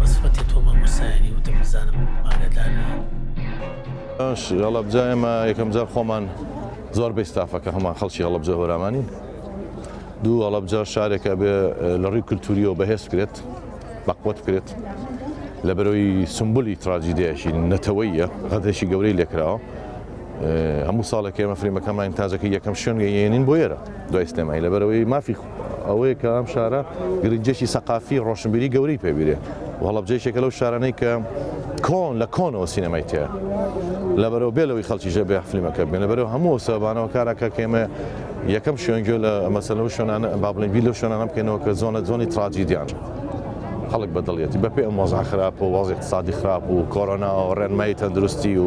بەسفەتی تۆ مامۆستایانی وتم بزانم ئاگادارنی. ئەش هەڵەبجە ئێمە یەکەم جار خۆمان زۆر بەی ستافەکە هەمان خەڵکی هەڵەبجە هۆرامانی دوو هەڵەبجە شارێکە بێ لە ڕووی کللتوریەوە بەهێز کرێت بەقوت کرێت لە بەرەوەی سمبولی تراجیدەیەشی نەتەوەیە غەدرێکی گەورەی لێکراوە هەموو ساڵێک ئێمە فریمەکەمان تاجەکە یەکەم شوێن گەیێنین بۆ یێرە دوای سلێمای لە بەرەوەی مافی ئەوەیە کە ئەم شارە گرنگیەکی سەقافی ڕۆشنبیری گەورەی پێبیرێ و هەڵەبجەیشێکە لەو شارانەی کە کۆن لە کۆنەوە سینەمای تێ لەبەرەوە بێ لەوەی خەڵکی ژە بێ فلیمەکە بێن لەبەرەوە هەموو سەبانەوە کارەکە کێمە یەکەم شوێنگوێ لە مەسەلە و شوێنانە بابلین بی لەو شوێنانە بکەینەوە کە زۆنە زۆنی تراجیدیان. خەڵک بەدڵیەتی بەپێ ئەم وەزا خراپ و وەزی اقتصادی خراپ و کۆرۆنا و ڕێنمایی تەندروستی و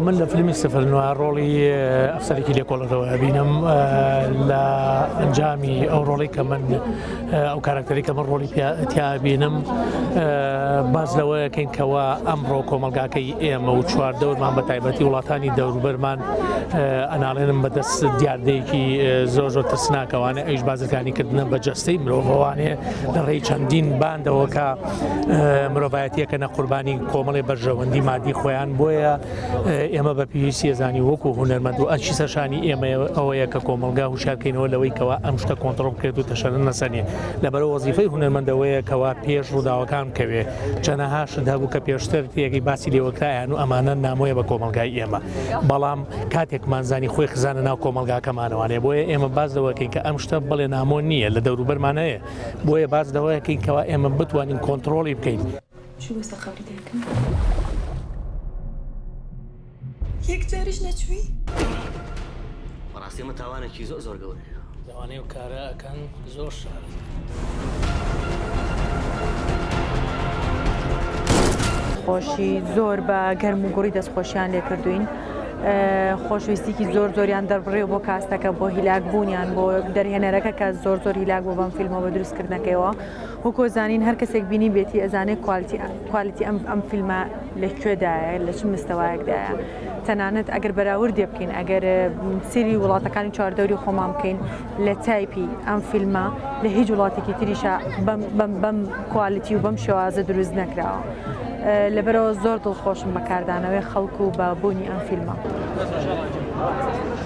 من لە فیلمی سفر نوە ڕۆڵی ئەفسەرێکی لێکۆڵەتەوە ئەبینم لە ئەنجامی ئەو ڕۆڵی کە من ئەو کارکتەری کە من ڕۆڵی تیابینم باز لەوەیەکەین کەەوە ئەمڕۆ کۆمەلگاکەی ئێمە و چوار دەورمان بە تایبەتی وڵاتانی دەوروبەرمان ئەناڵێنم بەدەست دیاردەیەکی زۆر زۆر ترسناکەوانە ئەیش بازرگانی کردنە بە جەستەی مرۆڤوانێ لە ڕێی چەندین باندەوە کە مرۆڤایەتیەکە نە قوربانی کۆمەڵی بەرژەوەندی مادی خۆیان بۆیە ئێمە بە پێویستی ێزانی وەکو هوەرمەند و ئەچی سەرشانی ئێمە ئەوەیە کە کۆمەلگا هوشارکەینەوە لەوەی کەوا ئەم شتە کۆنتترۆل بکرێت و تەشەر نەسەنێ لەبەر وەزیفەی هوەرمەندەوەیە کەوا پێش ڕووداوەکان کەوێ چەنەها شت هەبوو کە پێشتر تێگەی باسی لێوەکرایان و ئەمانە نامۆیە بە کۆمەلگای ئێمە بەڵام کاتێکمانزانی خۆی خزانە ناو کۆمەلگاکەمانەوانێ بۆیە ئێمە باز لەوەکەین کە ئەم شتە بڵێ نامۆ نییە لە دەوروبەرمان هەیە بۆیە باز لەوەیەکەین کەوا ئێمە بتوانین کۆنتترۆڵی بکەین. یەک جاریش نەچووی؟ بەڕاستی ئەمە تاوانێکی زۆر زۆر گەورەیە. لەوانەیە ئەو کارە ئەکەن زۆر شارەزان. خۆشی زۆر بە گەرم و گوڕی دەستخۆشیان لێکردوین. خۆشویستیکی زۆر زۆریان دەربڕێ بۆ کاستەکە بۆ هیلاک بوونیان بۆ دەرهێنەرەکە کە زۆر زۆر هیلاک بۆ بەم فیلمەوە دروستکردنەکەیەوە هۆکۆ زانین هەر کەسێک بینیبێتی ئەزانێ کوالتی کوالتی ئەم ئەم فیلمە لە کوێدایە لە چ مستەوایەکدایە تەنانەت ئەگەر بەراوردێ بکەین ئەگەر سری وڵاتەکانی چواردەوری خۆمان بکەین لە تایپی ئەم فیلمە لە هیچ وڵاتێکی تریشە بەم بەم بەم کوالتی و بەم شێوازە دروست نەکراوە لەبەرەوە زۆر دڵخۆشم بەکاردانەوەی خەڵکو و بە بوونی ئەم فیلمە.